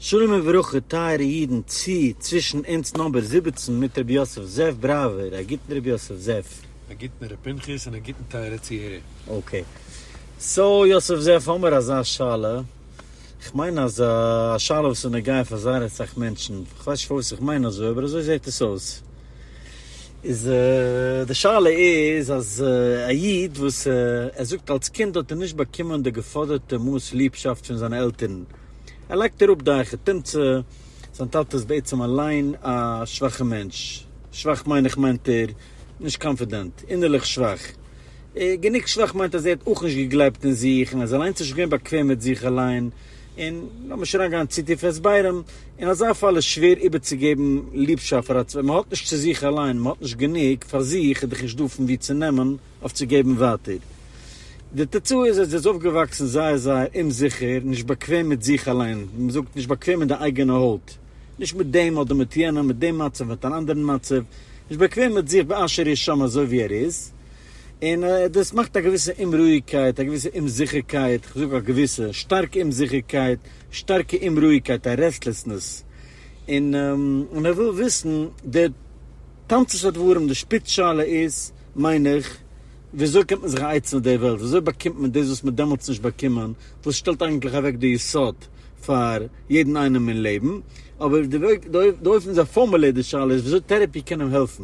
שלום וברכה טייערע אידן צו צווישן אונז נאמבער זיבעצן מיט רבי יוסף זאב בראווער א גוטן רבי יוסף זאב. א גוטן ר' פנחס און א גוטן טייערע צוהערער. אקעי סאו יוסף זאב האמער אזא שאלה, כ'מיין אז א שאלה וואס איז נוגע פאר זייער אסאך מענטשן, כ'ווייס נישט פארוואס איך מיין אזוי אבער אזוי זעהט עס אויס. איז די שאלה איז אז א איד וואס ער זאגט אלס קינד האט ער נישט באקומען די געפאדערטע מאס ליבשאפט פון זיינע עלטערן, ער לייגט אראפ די אייכע תמצא, זיין טאטע איז בעצם אליין א שוואכע מענטש, שוואך מיין איך מיינט ער נישט קאנפידענט, אינערליך שוואך, גענוג שוואך מיינט אז ער האט אויך נישט געגלייבט אין זיך און ער איז אליינס נישט געווען באקוועם מיט זיך אליין, און לאז נישט אריינגיין צו טיף אין הסברים, אין אזא פאל איז שווער איבערצוגעבן ליבשאפט פאר א צווייטן, מען האט נישט צו זיך אליין, מען האט נישט גענוג פאר זיך איז דאך נישט דא פון וואו צו נעמען אויף צו געבן ווייטער. די תוצאה איז אז זי איז אויפגעוואקסן זייער זייער אומזיכער, נישט באקוועם מיט זיך אליין, ווי מען זאגט, נישט באקוועם אין די אייגענע הויט, נישט מיט דעם אדער מיט יענעם, מיט דעם מצב, מיט אן אנדערן מצב, נישט באקוועם מיט זיך באשר הוא שם אזוי ווי ער איז, און דאס מאכט א געוויסע אומרואיגקייט, א געוויסע אומזיכערקייט, כ'זאג א געוויסע, שטארקע אומזיכערקייט, שטארקע אומרואיגקייט, א רעסטלעסנעס, און און ער וויל וויסן, די תמצית הדברים, די שפיץ שאלה איז, מיין איך, וויאזוי קומט מען זיך א עצה מיט די וועלט, וויאזוי באקומט מען דאס וואס מ'האט דעמאלטס נישט באקומען, וואס שטעלט אייגנטליך אוועק די יסוד פאר יעדן איינעם אין לעבן, אבער די אופן וויאזוי ער פארמולירט די שאלה איז וויאזוי טערעפי קען אים העלפן.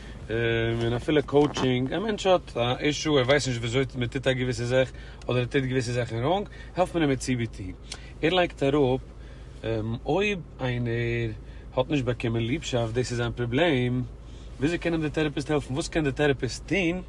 און אפילו קאוטשינג, א מענטש האט א אישו ער ווייסט נישט וויאזוי מען טוט א געוויסע זאך, אדער ער טוט געוויסע זאכן ראנג, העלפט מען אים מיט cbt, ער לייגט אראפ אויב איינער האט נישט באקומען ליבשאפט דאס איז זיין פראבלעם, וויאזוי קען אים די טעראפיסט העלפן, וואס קען די טעראפיסט טון?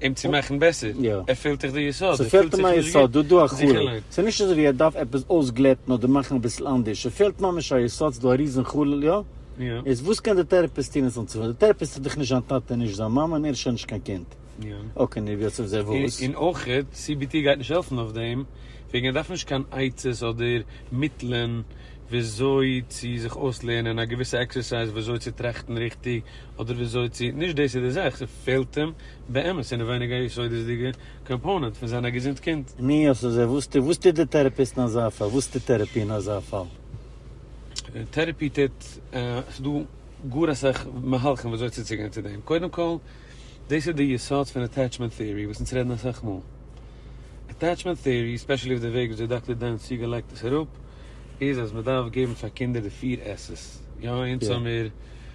אים צו מאכן בעסער, יא. ער פילט דאך די יסוד, ער פילט ס'פעלט אים א זיך נישט יסוד, דא דא א גוט, חלל, זיכערליך. ס'איז נישט אזויווי ער דארף עפעס אויסגלעטן אדער מאכן אביסל אנדערש, ס'פעלט ממש א יסוד, ס'איז דא א ריזן חלל, יא? יא. איז וואס קען דער טערעפיסט טון עס אנצופילן? דער טערעפיסט איז דאך נישט זיין טאטע און נישט זיין מאמע און ער איז שוין נישט קיין קינד. יא. אקעי, נו יאצ אויף זיי וואס? און אויך, CBT גייט נישט העלפן אויף דעם, וועגן ער דארף נישט קיין עצות אדער מיטלען וויאזוי צו זיך אויסלערנען א געוויסע עקסערסייז וויאזוי צו טראכטן ריכטיג, אדער וויאזוי צו נישט דאס איז די זאך ס'פעלט אים באמת אינעווייניג א יסודות'דיגע קאמפאונענט פון זיין א געזונט קינד. ני אז אזוי וואס טוט וואס טוט די טערעפיסט אין אזא פאל? וואס טוט טערעפי אין אזא פאל? טערעפי טוט ס'דא גאר אסאך מהלכים וויאזוי צוצוגיין צו דעם קודם כל דאס איז די יסוד פון אטעטשמענט טעארי וואס אונז רעדן אסאך מאל אטעטשמענט טעארי ספעשעלי אויף די וועג וויאזוי דאקטער דענס סיגעל לייגט עס אראפ איז אז מ'דארף געבן פאר קינדער די פיר עס'ס יא אונז האמיר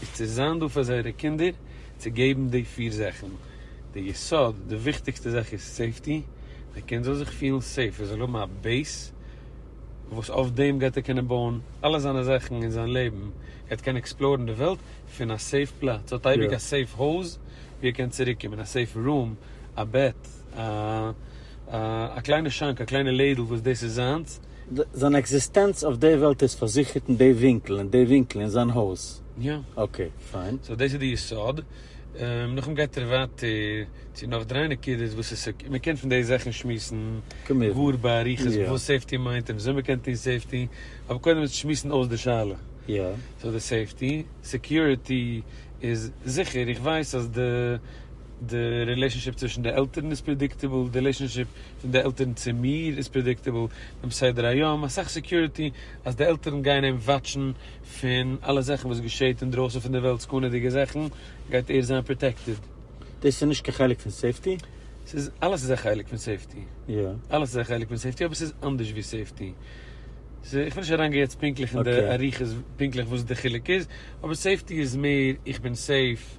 איז צו זיין דא פאר זייערע קינדער, צו געבן די פיר זאכן, די יסוד, די וויכטיגסטע זאך איז סעיפטי, די קינד זאל זיך פילן סעיף, ער זאל האבן א בעיס וואס אויף דעם גייט ער קענען בויען אלע זיינע זאכן אין זיין לעבן, ער וועט קענען עקספלארן די וועלט פון א סעיף פלאץ, ער האט אייביג א סעיף הויז ווי ער קען צוריק קומען, א סעיף רום, א בעט, א קליינע שאנק, א קליינע לעדל וואס דאס איז זיינס. זיין עקזיסטענץ אויף די וועלט איז פארזיכערט אין די ווינקל, אין די ווינקל, אין זיין הויז. יא. אקעי, פיין. סאו דאס איז די יסוד. נאכדעם גייט ער ווייטער צו נאך דריי נקודות וואס עס איז, מ'קען פון די זאכן שמועסן גאר באריכות וואס סעיפטי מיינט און וויאזוי מ'קען טון סעיפטי, אבער קודם איז צו שמועסן אויס די שאלה. סאו די סעיפטי, סעקיוריטי, איז זיכער. איך ווייס אז די די רילעישאנשיפ צווישן די עלטערן איז פרעדיקטעבל, די רילעישאנשיפ. פון די עלטערן צו מיר איז פרעדיקטעבל דעם סדר היום, אסאך סעקיוריטי אז די עלטערן גייען אים וואטשן פון אלע זאכן וואס געשעהט אינדרויסן פון די וועלט סכנה'דיגע זאכן גייט ער זיין פראטעקטעד. דאס איז נישט קיין חלק פון סעיפטי? ס'איז אלעס איז א חלק פון סעיפטי, אלעס איז א חלק פון סעיפטי אבער ס'איז אנדערש ווי סעיפטי, איך וויל נישט אריינגיין יעצט פונקטליך אין די אריכות פונקטליך וואס די חילוק איז, אבער סעיפטי איז מער איך בין סעיף.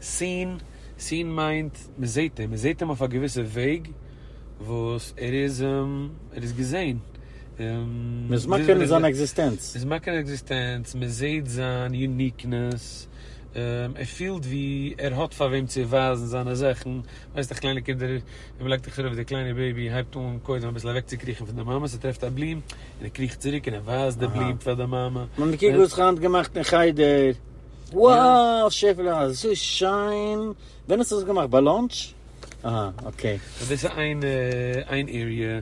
seen, seen מיינט מען זעט אים, מען זעט אים אויף א געוויסע וועג וואס ער איז, ער איז געזען. מען איז מכיר מיט זיין עקזיסטענץ. מען איז מכיר אין עקזיסטענץ, מען זעט זיין יוניקנעס, ער פילט ווי ער האט פאר וועם צו ווייזן זיינע זאכן, ווייסט אויף קליינע קינדער ווען מען לייגט א כדור אויף די קליינע בעיבי הייבט אן קודם אביסל אוועק צו קריכן פון די מאמע, עס טרעפט א בלום און ער קריכט צוריק און ער ווייזט די בלום פאר די מאמע. מען האט מיר קוק וואס איך האב היינט געמאכט אין חדר. וואו שעפעלע אזוי שיין, ווען האסטו דאס געמאכט ביי לאנטש? אהה אקעי. דאס איז איין איין עריע,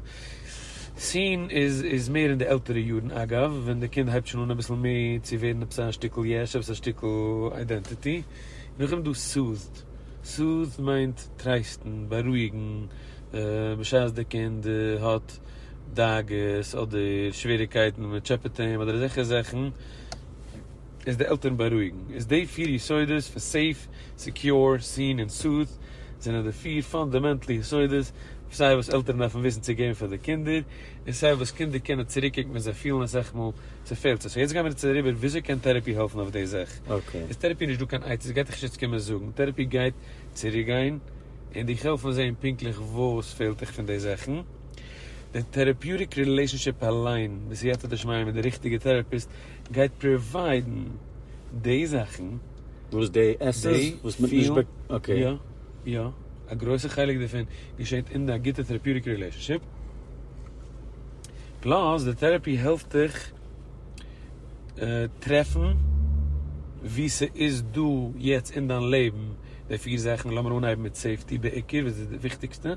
סין איז איז מער אין די עלטערע יארן, אגב ווען די קינד הייבט שוין אן אביסל מער צו ווערן עפעס א שטיקל יש, עפעס א שטיקל איידענטיטי, נאכדעם איז דא סאוט'ד, סאוט'ד מיינט טרייסטן, בארואיגן, בשעת די קינד האט דאגות אדער שוועריקייטן מען טשעפעט אים אדער אזעלכע זאכן, איז די עלטערן בארואיגן איז די פיר יסודות פון סעיף, סעקיור, סען און סאוט זענען די פיר פאנדאמענטל יסודות סיי וואס עלטערן דארפן וויסן צו געבן פאר די קינדער און סיי וואס קינדער קענען צוריקקוקן ווען זיי פילן אז עכפ מאל ס'פעלט זיי. סאו יעצט גיימיר צו אריבער וויאזוי קען טערעפי העלפן אויף די זאך. איז טערעפי נישט דא קיין עצות גייט דיך נישט יעצט קומען זאגן. טערעפי גייט צוריקגיין און דיך העלפן זעהן פונקטליך וואס פעלט דיך פון די זאכן. די טערעפיוטיק רילעישאנשיפ אליין בסייעתא דשמיא מיט די ריכטיגע טערעפיסט גייט פראוויידן די זאכן. וואס די עסן וואס מ'האט נישט באק. אקעי. יא יא. א גרויסע חלק דערפון געשעט אין א גוטע טערעפיוטיק רילעישאנשיפ. פלאס די טערעפי העלפט דיך טרעפן וואו ס'איז דא יעצט אין דיין לעבן די פיר זאכן. לאמיר אנהייבן מיט סעיפטי בעיקר וואס איז די וויכטיגסטע.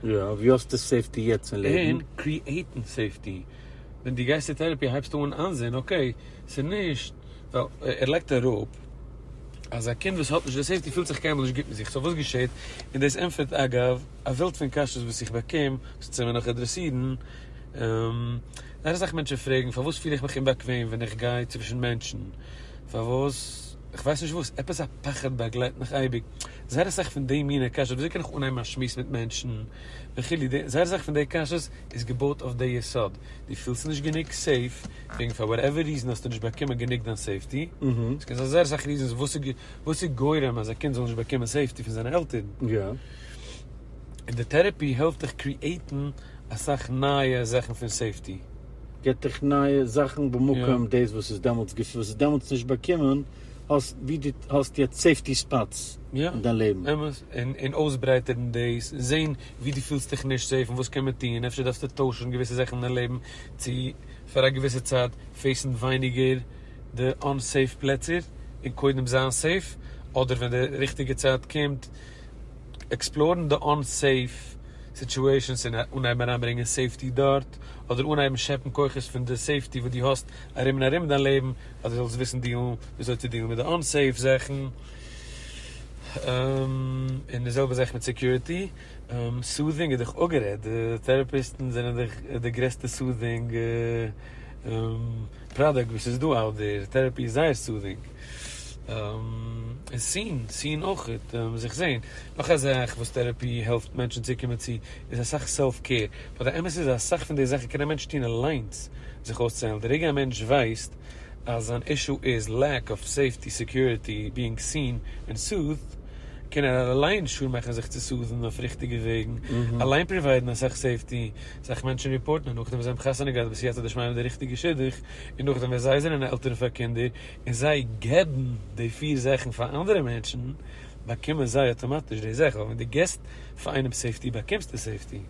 יא, וואו האסטו סעיפטי יעצט אין לעבן? און קריעיטן סעיפטי. ווען דו גייסט צו טערעפי הייבסטו אן איינזעהן אקעי ס'איז נישט ווייל ער לייגט אראפ אז א קינד וואס האט נישט די סעיפטי פילט זיך קיינמאל נישט גוט מיט זיך סאו וואס געשעהט און דאס ענטפערט אגב א וועלט פון קשיות וואס איך באקום וואס צו מיר נאך אדרעסירן זייער אסאך מענטשן פרעגן פארוואס פיל איך מיך אומבאקוועם ווען איך גיי צווישן מענטשן פארוואס איך ווייס נישט וואס עפעס א פחד באגלייט מיך אייביג זייער אסאך פון די מיני קשיות וויאזוי קען איך אנהייבן א שמועס מיט מענטשן וכו' זייער אסאך פון די קשיות איז געבויט אויף די יסוד, דו פילסט נישט גענוג סעיף, וועגן פאר וואטעווער ריזען האסטו נישט באקומען גענוג דיין סעיפטי, עס קען זיין זייער אסאך ריזענס וואס איז גורם אז א קינד זאל נישט באקומען סעיפטי פון זיינע עלטערן, און די טערעפי העלפט דיך קריעטן אסאך נייע זאכן פון סעיפטי. געט דיך נייע זאכן במקום דאס וואס איז דעמאלטס געפעלט, וואס איז דעמאלטס נישט באקומען, האסט ווי דו האסט יעצט סעיפטי ספאטס אין דיין לעבן. אמת, און אויסברייטערן דאס, און זען ווי דו פילסט דיך נישט סעיף און וואס קען מען טון, אפשר דארפסטו טוישן געוויסע זאכן אין דיין לעבן צו פאר א געוויסע צייט פעיסן ווייניגער די אנ-סעיף פלעצער און קודם זיין סעיף, אדער ווען די ריכטיגע צייט קומט עקספלארן די אנ-סעיף סיטועשאנס און אנהייבן אריינברענגען סעיפטי דארט, אדער אנהייבן שעפן כוחות פון די סעיפטי וואס דו האסט ארום און ארום דיין לעבן אז דו זאלסט וויסן דיעלן וויאזוי צו דיעלן מיט די אנ-סעיף זאכן. און די זעלבע זאך מיט סעקיוריטי, סודינג איז דאך אפגערעדט, די טעראפיסטן זענען דאך די גרעסטע סודינג פראדוקט וואס איז דא אאוט דער, טעראפי איז זייער סודינג, און סין, סין אויך, זיך זעהן, נאך א זאך וואס טעראפי העלפט מענטשן צו קומען צו איז אסאך סעלף קעיר, באט די אמת איז אז אסאך פון די זאכן קען א מענטש טון אליינס זיך אויסצוהיילן, די רגע א מענטש ווייסט. אז זיין אישו איז לעק אוו סעיפטי סעקיוריטי ביאינג סין און סוט'ד, קען ער אליין שור מאכן זיך צו סוט'ן אויף ריכטיגע וועגן, אליין פראוויידן אסאך סעיפטי, אסאך מענטשן ריפארטן און נאכדעם וואס זיי האבן חתונה געהאט בסייעתא דשמיא מיט די ריכטיגע שידוך, און נאכדעם ווען זיי זענען עלטערן פאר קינדער און זיי געבן די פיר זאכן פאר אנדערע מענטשן, באקומען זיי אטאמאטיש די זאך, ווייל ווען דו געסט פאר איינעם סעיפטי באקומסטו סעיפטי,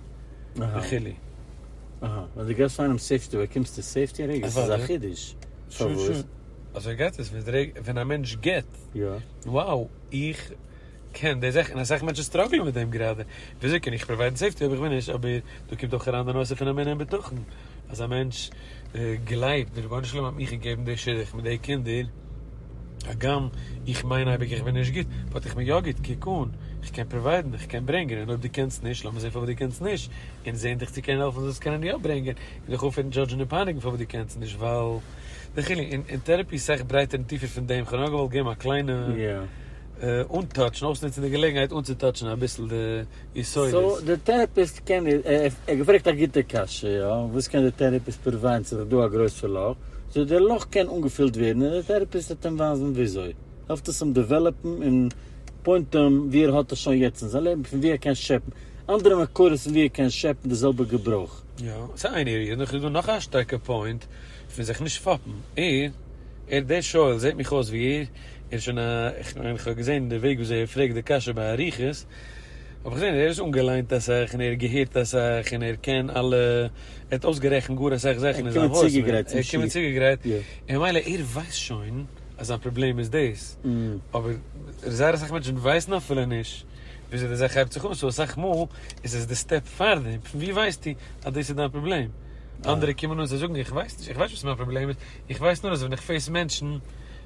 וכו'. אהא, ווען דו געבסט איינעם סעיפטי באקומסטו סעיפטי רגע? ס'איז א חידוש. שוין שוין. אזוי גייט עס, ווען א מענטש גיבט, וואו איך קען די זאך, און אסאך מענטשן סטראגלען מיט דעם גראדע, וויאזוי קען איך פראוויידן סעיפטי אויב איך בין נישט, אבער דא קומט אויך אריין די נושא פון אמונה און בטחון, אז א מענטש גלייבט, די רבונו של עולם האט מיר געגעבן די שידוך מיט די קינדער, הגם איך מיין אייביג איך בין נישט גוט, באט איך בין יא גוט, קוק אן, איך קען פראוויידן, איך קען ברענגען, און אויב דו קענסט נישט, לאמיר זען פארוואס דו קענסט נישט, און זען דיך צו קענען העלפן זאלסט קענען יא ברענגען, און דיך אויפהערן דזשאדזשן און פייניגן פארוואס דו קענסט נישט, ווייל די חילוק אין אין טערעפי איז סאך ברייטער און טיפער פון דעם, כ'האב נאר געוואלט געבן א קליינע אנטאטש און אויסנוצן די געלעגנהייט אנצוטאטשן אביסל די. סאו די טערעפיסט קען, ער האט געפרעגט א גוטע קשיא, וואס קען די טערעפיסט פראווען צו איך דא א גרויסע לאך, זאל דער לאך קען אנגעפילט ווערן און די טערעפיסט וועט אים ווייזן וויאזוי, העלפט עס אים דעוועלאפן און פוינטען ווי ער האט עס שוין יעצט אין זיין לעבן פון ווי ער קען שעפן אנדערע מקורות פון ווי ער קען שעפן די זעלבע געברויך. יא, ס'איז איין עריע, און נאכדעם איז דא נאך א שטארקע פוינט פון זיך נישט פאפן, ער, ער, דער שואל זעט מיך אויס ווי ער, ער איז שוין א, איך מיין איך האב געזען די וועג וויאזוי ער פרעגט די קשיא באריכות, האב איך געזען ער איז אנגעליינט אסאך און ער האט געהערט אסאך און ער קען אלע, ער האט אויסגערעכנט גאר אסאך זאכן אין זיין וואויס מעיל, ער איז געקומען צוגעגרייט, און ממילא ער ווייסט שוין אז זיין פראבלעם איז דאס, אבער זייער אסאך מענטשן ווייסן אפילו נישט וויאזוי די זאך הייבט זיך אן, סאו אסאך מאל איז עס די סטעפ פארדעם, פון ווי ווייסטו אז דאס איז דיין פראבלעם? אנדערע קומען אן זיי זאגן איך ווייס נישט, איך ווייס נישט וואס מיין פראבלעם איז, איך ווייס נאר אז ווען איך פעיס מענטשן,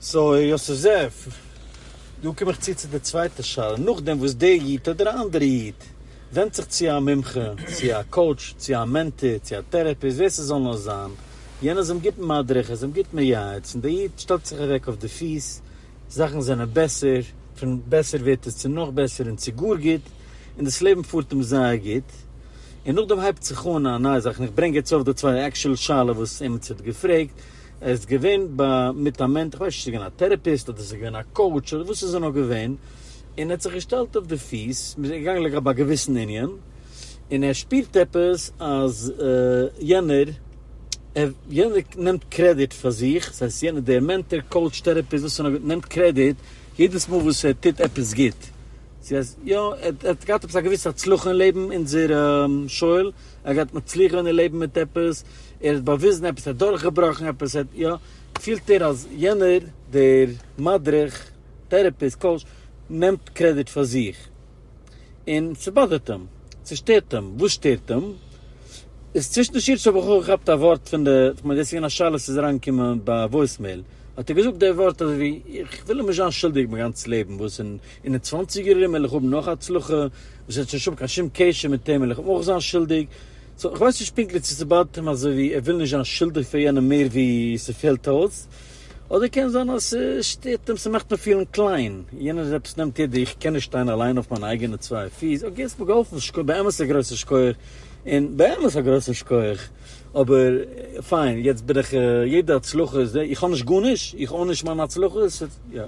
סוי יוסף זאב, דא קום איך צו צו די צווייטע שאלה, נאכדעם וואס דער איד אדער א אנדערע איד ווענדט זיך צו א מומחה, צו א קאוטש, צו א מענטאר, צו א טערעפיסט, ווער ס'זאל נאר זיין, יענער איז אים גוט מדריך, איז אים גוט מייעץ, און דער איד שטעלט זיך אוועק אויף די פיס, זאכן זענען בעסער, פון בעסער ווערט עס צו נאך בעסער און צו גאר גוט, און דאס לעבן פארט אים זייער גוט, און נאכדעם הייבט זיך אן א נייע זאך, און איך ברענג יעצט אויף די צווייטע עקשעל שאלה וואס עימיצער האט געפרעגט, ער איז געווען ב מיט א מענטש, כ'ווייס נישט צו ס'איז געווען א טערעפיסט אדער ס'איז געווען א קאוטש אדער וואס ס'איז נאר געווען, און ער האט זיך געשטעלט אויף די פיס, מ'איז געגאנגען לגבי א געוויסן ענין, און ער שפירט עפעס אז יענער יענער נעמט קרעדיט פאר זיך, דאס הייסט יענער דער מענטאר קאוטש טערעפיסט וואס ס'איז נאר נעמט קרעדיט יעדעס מאל וואס ער טוט עפעס גוט, צו אז יא ער האט געהאט עפעס א געוויסע הצלחה אין לעבן, אונזער שואל, ער האט געהאט מצליח געווען אין לעבן מיט עפעס, ער האט באוויזן עפעס, ער האט דורכגעבראכן עפעס, ער האט יא, פילט ער אז יענער דער מדריך, טערעפיסט, קאוטש, נעמט קרעדיט פאר זיך, און ס'באדערט אים, ס'שטערט אים, וואס שטערט אים? איז צווישן די שירעס האב איך אויך געכאפט א ווארט פון די, כ'מיין דאס איז געווען א שאלה וואס איז אריינגעקומען ביי וואויסמעיל, האט ער געזאגט די ווארט אזוי ווי, איך וויל נישט זיין שולדיג מיין גאנץ לעבן, וואס אין אין די צוואנציגער ארום וועל איך האבן נאך הצלחה, וואס האט שוין נישט קיין שום קשר מיט אים, וועל איך אויך זיין שולדיג, סאו כ'ווייס נישט פונקטליך צו ס'באדערט אים אזוי ווי ער וויל נישט זיין שולדיג פאר יענעם מער ווי ס'פעלט אויס, אדער קען זיין אז ס'שטערט אים, ס'מאכט אים פילן קליין, יענער איז עפעס נעמט יעדע איך קען נישט שטיין אליין אויף מיינע אייגענע צוויי פיס, אקעי האסט מיר געהאלפן שכוח, באמת א גרויסע שכוח, און באמת א גרויסן שכוח, אבער פיין, יעצט בין איך, יעדע הצלחה איז, איך האב נישט גארנישט, איך אן נישט מיינע הצלחות,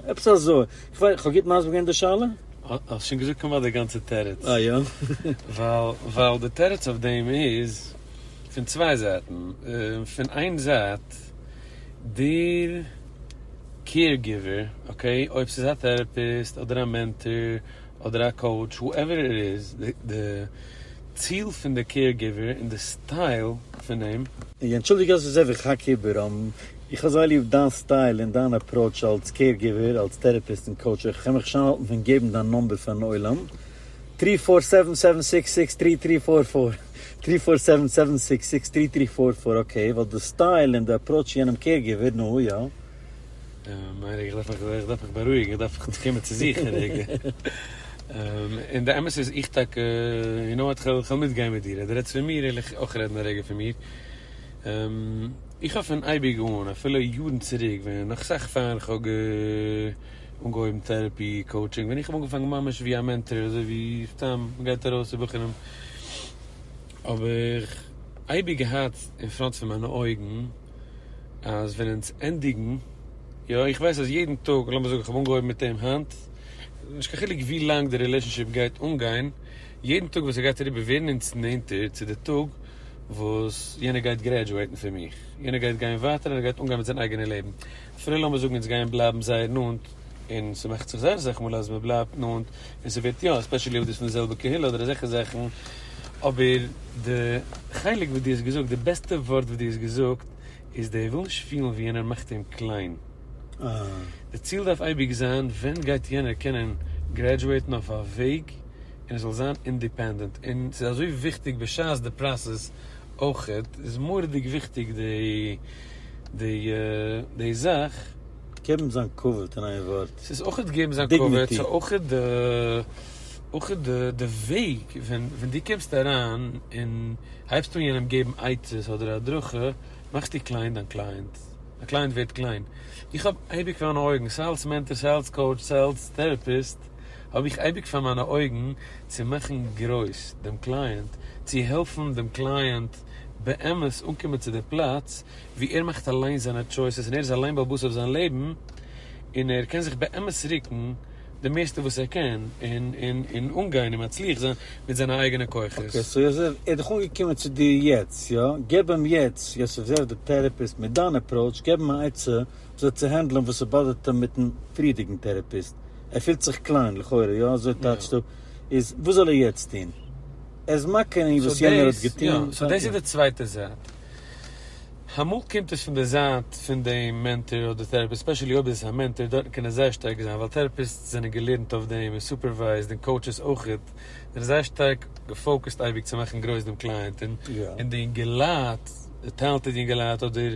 עפעס אזוי. כ'האב גוט מסביר געווען די שאלה? האסט שוין געזאגט כמעט די גאנצע תירוץ. אה יא? ווייל ווייל די תירוץ אויף דעם איז פון צוויי זייטן. פון איין זייט, דער קעיר גיווער, אקעי, אויב ס'איז א טעראפיסט אדער א מענטאר אדער א קאוטש, האועווער איט איז, די ציל פון די קעיר גיווער און די סטייל פון אים, איך אנטשולדיג אז איך זע ווי כ'האק איבער. איך האב זייער ליב דיין סטייל און דיין אפראוטש אלץ קעיר גיווער, אלץ טערעפיסט און קאוטש אויך, כ'קען מיך נישט איינהאלטן פון געבן דיין נאמבער פארן עולם, טרי פאר סעווען סעווען סיקס סיקס טרי טרי פאר פאר, טרי פאר סעווען סעווען סיקס סיקס טרי טרי פאר פאר, אקעי, ווייל די סטייל און די אפראוטש צו יענעם קעיר גיווער, נו יא. מיין איך דארף מיך איך דארף מיך בארואיגן איך דארף מיך קומען צו זיך א רגע, און די אמת איז איך טאקע, יו נאו וואט כ'וועל מיטגיין מיט דיר אז דו רעדסט פון מיר, וועל איך אויך רעדן א רגע פון מיר. איך האב פון אייביג אן, אפילו יארן צוריק ווען נאך סאך פאר איך האב אנגעהויבן טעראפי קאוטשינג, ווען איך האב אנגעפאנגען ממש ווי א מענטאר אזוי ווי סתם מ'גייט ארויס צו בחורים, האב איך אייביג געהאט אין פראנט פון מיינע אויגן אז ווען אונז ענדיגן, יא איך ווייס אז יעדן טאג, לאמיר זאגן איך האב אנגעהויבן מיט אים היינט, נישט קיין חילוק ווי לאנג די רילעישאנשיפ גייט אנגיין, יעדן טאג וואס ס'גייט אריבער ווערן אונז נענטער צו די טאג וואס יענער גייט גרעדזשועטן פון מיך, יענער גייט גיין ווייטער און ער גייט אנגיין מיט זיין אייגענע לעבן, אפילו לאמיר זאגן אונז גייען בלייבן זייער נאנט, און ס'מאכט זיך זייער אסאך מאל אז מ'בלייבט נאנט און ס'ווערט יא, עספעשעלי אויב דאס פון די זעלבע קהילה אדער אזעלכע זאכן, אבער די חלק וואס דו האסט געזאגט, די בעסטע ווארט וואס דו האסט געזאגט איז דער וויל נישט פילן ווי יענער מאכט אים קליין. די ציל דארף אייביג זיין ווען גייט יענער קענען גרעדזשועטן אויף א וועג און זאל זיין אינדיפענדענט, און ס'איז אזוי וויכטיג בשעת די פראסעס אויכעט, איז מורא'דיג וויכטיג די די זאך. געבן זיין כבוד אין איין ווארט, ס'איז אויכעט געבן זיין כבוד, דיגניטי. ס'איז אויכעט די אויכעט די די וועג ווען ווען דו קומסט אריין און הייבסט אן יענעם געבן עצות אדער הדרכה, מאכסטו קליין דיין קלייענט, דיין קלייענט ווערט קליין. איך האב אייביג פארן אויגן סיי אלס מענטאר, סיי אלס קאוטש, סיי אלס טעראפיסט, האב איך אייביג פאר מיינע אויגן צו מאכן גרויס דעם קלייענט, צו העלפן דעם קלייענט באמת אנקומען צו דער פלאץ וואו ער מאכט אליין זיינע טשויסעס און ער איז אליין בעל בית אויף זיין לעבן און ער קען זיך באמת רוקן די מערסטע וואס ער קען און אנגיין און מצליח זיין מיט זיינע אייגענע כוחות. אקעי, סאו יוסף, ער איז דאך אנגעקומען צו דיר יעצט, יא? געב אים יעצט, יוסף זערער דער טערעפיסט, מיט דיין עפראוטש, געב אים א עצה וויאזוי צו הענדלען וואס ס'באדערט אים מיט'ן פריערדיגן טערעפיסט. ער פילט זיך קליין, לכאורה, יא? אזוי טייטשט ער. איז וואס זאל ער יעצט טון? ער איז מכה אין וואס יענער האט געטון. סאו דאס איז די צווייטע זייט. אמאל קומט עס פון די זייט פון די מענטאר אדער טעראפיסט, ספעשעלי אויב איז עס א מענטאר, דארטן קען עס זייער שטארק זיין, ווייל טעראפיסטס זענען געלערנט אויף דעם, און סופערווייזד, און קאוטשעס אויכעט, זענען זייער שטארק געפאוקעסט אייביג צו מאכן גרויס דעם קלייענט, און די אינגעלייט, די טעלענטעד אינגעלייט אדער.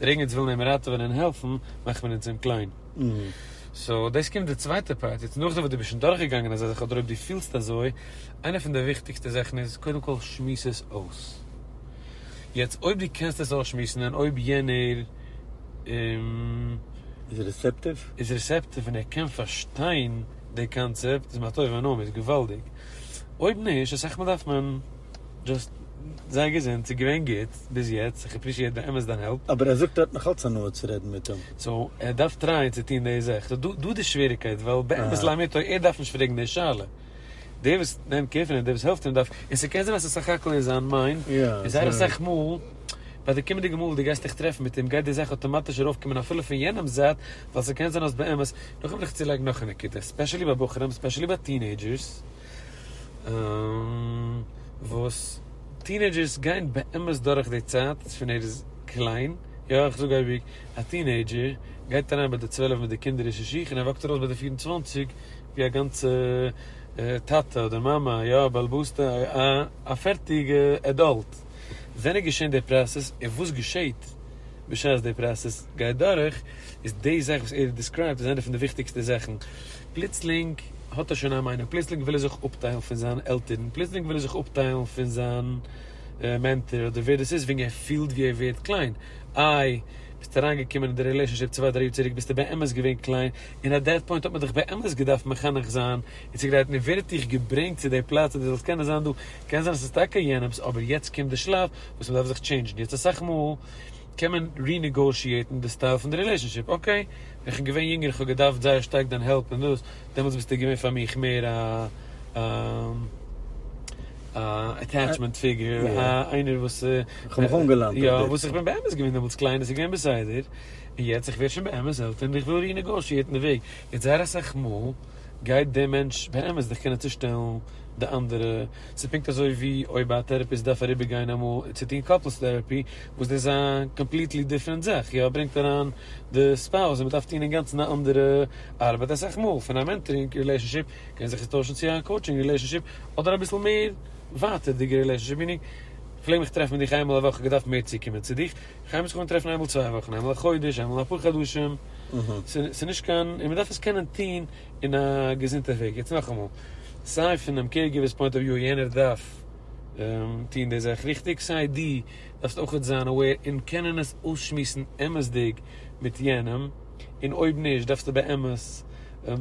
דער אינגעץ וויל אים ראטעווען און העלפן, מאכט מען אונז אים קליין. סאו דאס קומט די צווייטע פארט, יעצט נאכדעם וואס דו ביסט שוין דורכגעגאנגען אזא זאך אדער אויב דו פילסט אזוי, איינע פון די וויכטיגסטע זאכן איז קודם כל שמועס עס אויס. יעצט אויב דו קענסט עס אויסשמועסן און אויב יענער איז. איז רעסעפטיוו. איז רעסעפטיוו און ער קען פארשטיין די קאנצעפט, איז מה טוב ומה נעים, איז געוואלדיג. אויב נישט, אסאך מאל דארף מען. דזשאסט זיי געזונט, ס'איז געווען גוט ביז יעצט, איך עפרישיעט באמת דיין העלפ. אבער ער זאגט ער האט נאך אלץ הנאה צו רעדן מיט אים. סאו ער דארף טרייען צו טון די זאך, ס'איז דא דא די שוועריקייט, ווייל באמת לאמיתו ער דארף נישט פרעגן די שאלה, דער וואס נעמט קער פון אים, דער וואס העלפט אים דארף, און ס'קען זיין אז ס'איז סך הכל אין זיין מיינד, און זייער אסאך מאל ביי די קומענדיגע מאל וואס דו גייסט דיך טרעפן מיט אים גייט די זאך אטאמאטיש ארויפקומען אפילו פון יענעמ'ס זייט, ווייל ס'קען זיין אז באמת, נאכדעם וויל איך צולייגן נאך א נקודה, ספעשעלי ביי בחורים, ספעשעלי ביי טינעידזשערס, וואס טינעידזשערס גייען באמת דורך די צייט פון ער איז קליין, יא איך זאג אייביג א טינעידזשער גייט אריין ביי די צוועלף מיט די קינדערישע שיך און ער וואקט ארויס ביי די פֿיר און צוואַנציק ווי א גאנצע טאטע אדער מאמע יא א בעל הבית א א פערטיגע עדאלט, ווען איז געשען די פראסעס און וואס געשעהט בשעת די פראסעס גייט דורך, איז די זאך וואס ער האט דיסקרייבט איז איינע פון די וויכטיגסטע זאכן. פלוצלינג האט ער שוין א מיינונג, פלוצלינג וויל ער זיך אפטיילן פון זיין עלטערן, פלוצלינג וויל ער זיך אפטיילן פון זיין מענטאר אדער ווער דאס איז, וועגן ער פילט ווי ער ווערט קליין. איי, ביסטו אריינגעקומען אין די רילעישאנשיפ צוויי דריי יאר צוריק ביסטו באמת געווען קליין, און אט דעט פוינט האט מען דיך באמת געדארפט מחנך זיין און צוגרייטן, און ווער האט דיך געברענגט צו די פלאץ אז דו זאלסט קענען זיין דא? קען זיין אז ס'איז טאקע יענעמ'ס אבער יעצט קומט די שלב וואס מ'דארף זיך טשעינדזשן, יעצט אסאך מאל. קען מען רינעגאושיעטן די סטייל פון די רילעשאנשיפ, אקעי ווען כ'בין געווען יונגער כ'האב געדארפט זייער שטארק דיין העלפ אין דאס, דעמאלטס ביסטו געווען פאר מיך מער א א א עטעטשמענט פיגור, א איינער וואס כ'האב מיך אנגעלאנט, יא וואס איך בין באמת געווען דעמאלטס קליין איז געווען בסדר, און יעצט איך ווער שוין באמת עלטער און איך וויל רינעגאושיעטן די וועג, יעצט זייער אסאך מאל. גייט דער מענטש באמת זיך קענען צושטעלן די אנדערע, ס'איז פונקט אזוי ווי אויב א טערעפיסט דארף אריבערגיין אמאל און צו טון קאפלס טערעפי וואס דאס איז א קאמפליטלי דיפרענט זאך, יא ברענגט אריין די ספאוז און מ'דארף טון אינגאנצן א אנדערע ארבעט, אסאך מאל פון א מענטארינג רילעישאנשיפ קען זיך עס טוישן צו א קאוטשינג רילעישאנשיפ אדער אביסל מער ווייטערדיגע רילעישאנשיפ, מינינג, כ'פלעג מיך טרעפן מיט דיך איינמאל א וואך, כ'האב געדארפט מער צוקומען צו דיך, כ'הייב זיך אן טרעפן איינמאל צוויי וואכן, איינמאל א חודש, איינמאל אפאר חדשים, ס'איז נישט קיין, און מ'דארף עס קענען טון אין א געזונטע וועג, יעצט נאכאמאל, סיי פונעם קעיר גיווער'ס פוינט אוו וויו, יענער דארף טון די זאך ריכטיג, סיי דו דארפסט אויך זיין אוועיר און קענען עס אויסשמועסן אמת'דיג מיט יענעם, און אויב נישט דארפסטו באמת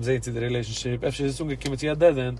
זען צו די רילעישאנשיפ, אפשר איז עס אנגעקומען צו א דעד ענד,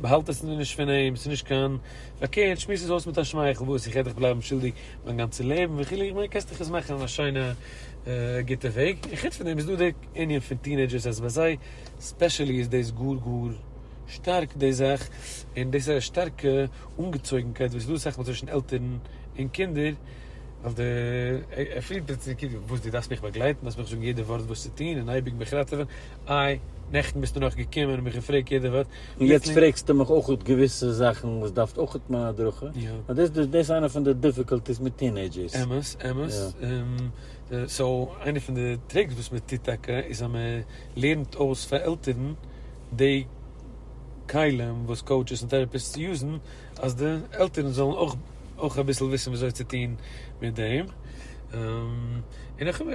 באהאלט עס נישט פון אים, ס'איז נישט קיין פארקערט, שמועס עס אויס מיט א שמייכל, וואס איך העט דיך בלייבן שולדיג מיין גאנצע לעבן וכו', איך מיין קענסט דיך עס מאכן אין א שיינע גוטע וועג, און חוץ פון דעם איז דא די ענין פון טינעידזשערס אז ביי זיי ספעשעלי איז דאס גאר גאר שטארק די זאך, און דאס איז א שטארקע אנגעצויגנקייט וואס איז דא אסאך מאל צווישן עלטערן און קינדער, ווייל די ער פילט פלוצלינג כאילו וואס דו דארפסט מיך באגלייטן, דו דארפסט מיך זאגן יעדע ווארט וואס צו טון און אייביג מיך ראטעווען, איי, נעכטן ביסטו נאך געקומען און מיך געפרעגט יעדע ווארט. און יעצט פרעגסטו מיך אויך געוויסע זאכן וואס דארף אויך מיין הדרכה. יא. דאס איז איינע פון די דיפיקאלטיס מיט טינעידזשערס. אמת, אמת. און סאו, איינע פון די טריקס וואס מען טוט טאקע איז אז מען לערנט אויס פאר עלטערן די כלים וואס קאוטשעס און טעראפיסטס יוזן, אז די עלטערן זאלן אויך אויך אביסל וויסן ווי אזוי צו טון מיט דעם. און איך האב,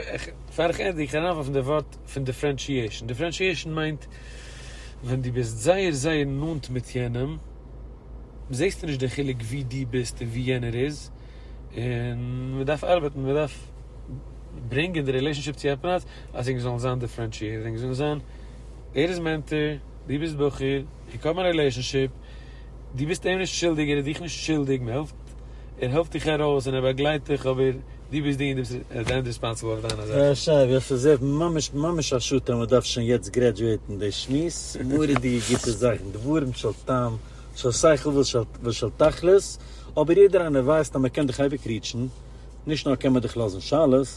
פאר איך ענדיג, איך הער אריין ווארפן די ווארט פון דיפרענשיעשן. דיפרענשיעשן מיינט ווען דו ביסט זייער זייער נאנט מיט יענעם זעסטו נישט די חילוק ווי דו ביסט און ווי יענער איז, און מען דארף ארבעטן, מען דארף ברענגען די רילעישאנשיפ צו א פלאץ אז זינגס זאלן זיין דיפרענשיעטעד, זינגס זאלן זיין ער איז מענטער, דו ביסט בחור, איך האב מיין רילעישאנשיפ, דו ביסט אים נישט שולדיג, ער איז דיך נישט שולדיג, מען העלפט, ער העלפט דיך ארויס און ער באגלייט דיך אבער. דו ביסט דער וואס איז עט די ענד ריספאנסעבל אויף דיינע זאכן. א שייגעץ, וואס איז עט ממש ממש א שאד אז מען דארף שוין יעצט גרעדזשועטן די שמועס, מורא'דיגע גוטע זאכן, דברים של טעם, של שכל ושל תכלית, אבער יעדער איינער ווייסט אז מען קען דאך אייביג ריעטשן, נישט נאר קען מען דאך לאזן שאלות,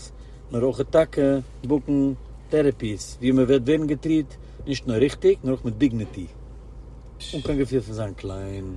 נאר אויך טאקע בוקן טערעפיס וואו מען וועט ווערן געטריעט נישט נאר ריכטיג נאר אויך מיט דיגניטי, אן קיין געפיל פון זיין קליין.